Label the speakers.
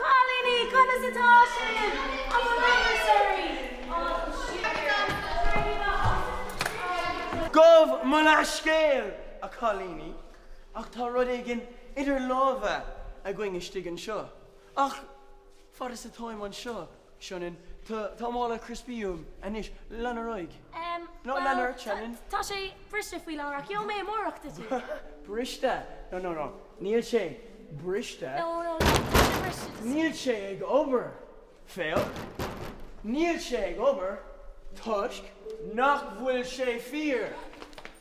Speaker 1: Cailíní, Conas atá sibh? An bhfuil aon suirí? Á, suirí. Céard atá uait? Gabh mo leathscéal, a chailíní, ach tá rud éigin idir lámha againn istigh anseo. Ach fad is atáim anseo. Sionainn, Tá mála crispí uaim anois. Lean ar aghaidh. Em, Nó lean ort, bhuel, Sionainn. tá sé briste
Speaker 2: faoi láthair ach gheobhaidh mé amárach duit. Briste?
Speaker 1: Nó, nó, nó, níl sé briste. Nó, nó, nó, tá
Speaker 2: sé briste duit. Níl sé
Speaker 1: ag obair. Fail. Níl sé ag obair toisc nach bhfuil sé fíor.